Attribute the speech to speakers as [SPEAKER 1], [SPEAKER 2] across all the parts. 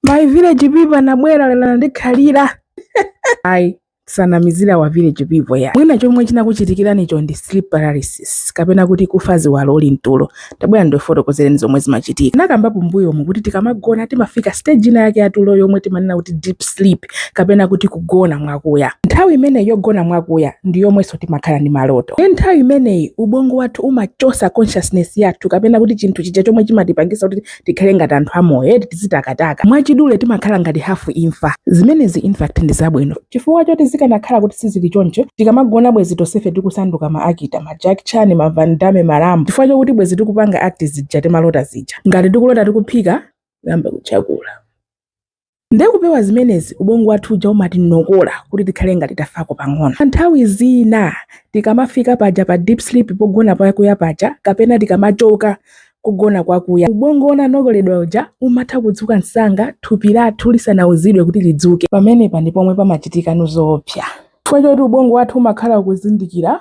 [SPEAKER 1] my village people anabwera lero anandikhalira ayi osanamizira wa village people ya mwina chomwe chinakuchitikiranicho ndi sleep paralysis kapena kuti kufa ziwalo uli mtulo tabwera ndifotokozereni zomwe zimachitika nakambapo mbuyomu kuti tikamagona timafika stage ina yake yatulo yomwe timanena kuti deep sleep kapena kuti kugona mwakuya nthawi imeneyi yogona mwakuya ndi yomwenso timakhala ndi maloto nde nthawi imeneyi ubongo wathu umachosa consciousness yathu kapena kuti chinthu chija chomwe chimatipangisa kuti tikhale ngati anthu amoyo eti tizitakataka mwachidule timakhala ngati hafu imfa zimenezi infact ndi zabwino chifukwa choti zikanakhala kuti sizili choncho tikamagona bwezi tonsefe tikusanduka ma actor ma Jackie Chan ma van damme ma rambo chifukwa chokuti bwezi tikupanga act zija timalota zija ngati tikulota tikuphika kuyamba kutchakula Ndiye kupewa zimenezi, ubongo wathu uja umatinokola kuti tikhale ngati tafako pang'ono. Nthawi zina, tikamafika paja pa deep sleep, pogona kwakuya paja, kapena tikamachoka kogona kwakuya, ubongo wonse unanokoledwa uja umatha kudzuka msanga thupi lathu lisanauzidwe kuti lidzuke. Pamenepa ndi pomwe pamachitikano zoopsa chifukwa choti ubongo wathu umakhala ukuzindikira.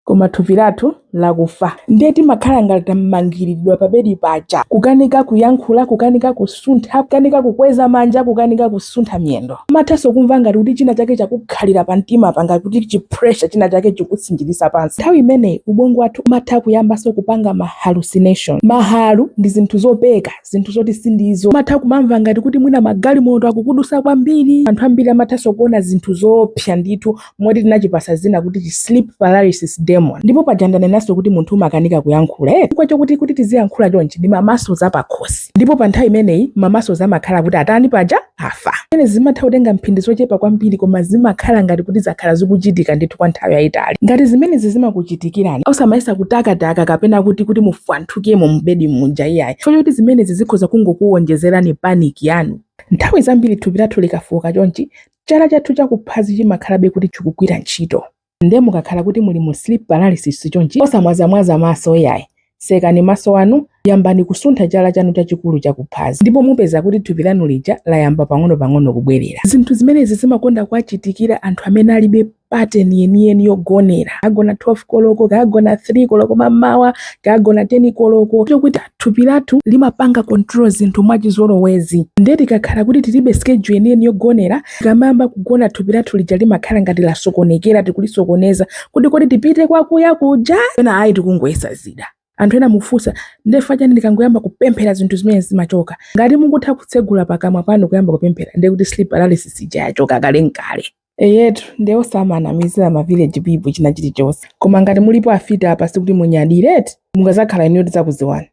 [SPEAKER 1] koma thupi lathu nlakufa. Ndiye timakhala ngati tamangiriridwa pabedi paja, kukanika kuyankhula, kukanika kusuntha, kukanika kukweza manja, kukanika kusuntha miyendo. Umathanso kumva ngati kuti china chake chakukhalira pamtimapa, ngati kuti chi pressure china chake chikutsinjiriza pansi. Nthawi imeneyi ubongo wathu umatha kuyambanso kupanga ma hallucination. Mahalu ndi zinthu zopeka, zinthu zoti sindizo. Umatha kumamva ngati kuti mwina magalimoto akudutsa kwambiri. Anthu ambiri amathanso kuona zinthu zoopsa ndithu. moti tinachipasa dzina kuti chi sleep paralysis demon ndipo paja ndanenanso kuti munthu umakanika kuyankhula eti chifukwa chokuti kuti tiziyankhula chonchi ndi ma muscles a pakhosi ndipo pa nthawi imeneyi ma muscles amakhala kuti atani paja afa zimenezi zimatha kutenga mphindi zochepa kwambiri koma zimakhala ngati kuti zakhala zikuchitika ndithu kwa nthawi yayitali ngati zimenezi zimakuchitikirani osamayesa kutakataka kapena kuti kuti mufwanthukemo mubedi muja iyayi chifukwa choti zimenezi zikhoza kungokuwonjezerani panic yanu nthawi zambiri thupi lathu likafowoka chonchi Chala chathu cha kuphazi chimakhalabe kuti chikugwira ntchito. Nde mukakhala kuti muli mu sleep paralysis chonchi, osamwazamwaza maso yayi. Tsekani maso anu, yambani kusuntha chala chanu chachikulu cha kuphazi ndipo mupeza kuti thupi lanu lija layamba pang'onopang'ono kubwerera. Zinthu zimenezi zimakonda kuwachitikira anthu amene alibe. pattern yeniyeni yogonera kagona 12 koloko kagona 3 koloko mamawa kagona 10 koloko chifukwa chokuti thupi lathu limapanga control zinthu mwachizolowezi nde tikakhala kuti tilibe schedule yeniyeni yogonera tikamayamba kugona thupi lathu lija limakhala ngati lasokonekera tikulisokoneza kuti kodi tipite kwakuya kuja kapena ayi tikungoyesa zida anthu ena mufunsa nde chifukwa chani ndikangoyamba kupemphera zinthu zimene zimachoka ngati mukutha kutsegula pakamwa panu kuyamba kupemphera ndekuti sleep paralysis ija yachoka kale nkale Eyetu nde osamanamizila ma village people china chilichonse koma ngati mulipo afiti apa sikuti munyadile eti? Mukadzakhala inuyo tidzakuziwani.